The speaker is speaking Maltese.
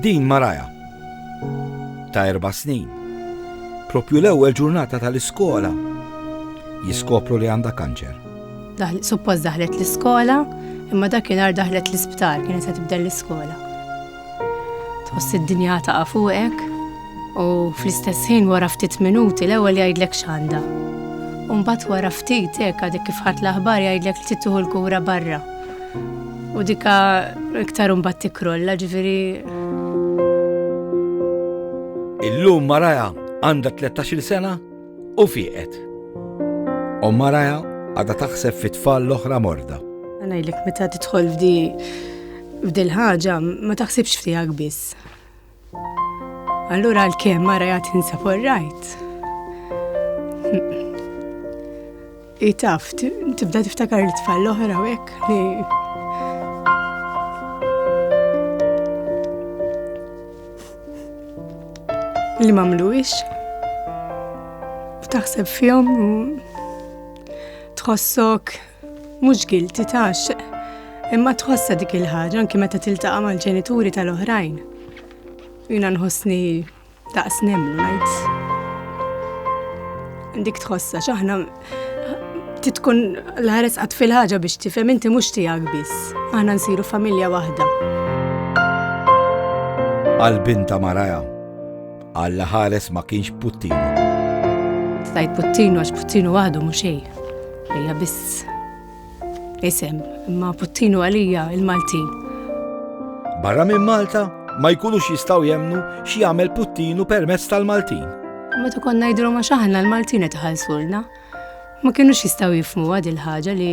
Din Mariah, ta' erba' snin, proprju l-ewwel ġurnata tal-iskola jiskopru li għandha kanċer. Suppost daħlet l-iskola, imma dakinhar daħlet l-isptar kienet se tibda l-iskola. Tħoss id-dinja taqa' fuqek u fl-istess ħin wara ftit minuti l-ewwel jgħidlek x'għandha. U mbagħad wara ftit hekk għadek kif ħadt l-aħbar jgħidlek li trid tieħu l-kura barra. U dika iktar mbagħad tikrolla ġifieri. Illum Maraja għandha 13-il sena u fieqet. U Maraja għadha taħseb fit-tfal l-oħra morda. Għanajlek meta tidħol f'di f'dil ħaġa ma taħsibx f'tiegħek biss. Allura għalkemm mara jgħat insa for right. Itaf, tibda tiftakar li tfal l-oħra u hekk li li mamluwix u taħseb fjom u tħossok Mhux guilty tax. Imma tħossha dik il-ħaġa anki meta tiltaqa' mal-ġenituri tal-oħrajn. Jina nħossni daqs nemlu ngħid. Dik tħossha x'aħna titkun l-ħares qatt fil-ħaġa biex tifhem inti mhux tiegħek biss. Aħna nsiru familja waħda. Għal binta Maraja Alla ħares ma kienx puttinu. Stajt puttinu għax puttinu għadu mhux xejn. Hija biss isem, imma puttinu għalija il-Maltin. Barra minn Malta ma jkunux jistaw jemnu xi jagħmel puttinu permezz tal-Maltin. Ma tukon ngħidru ma xaħna l-Maltin qed ħalsulna. Ma kienux jistaw jifmu għad il-ħaġa li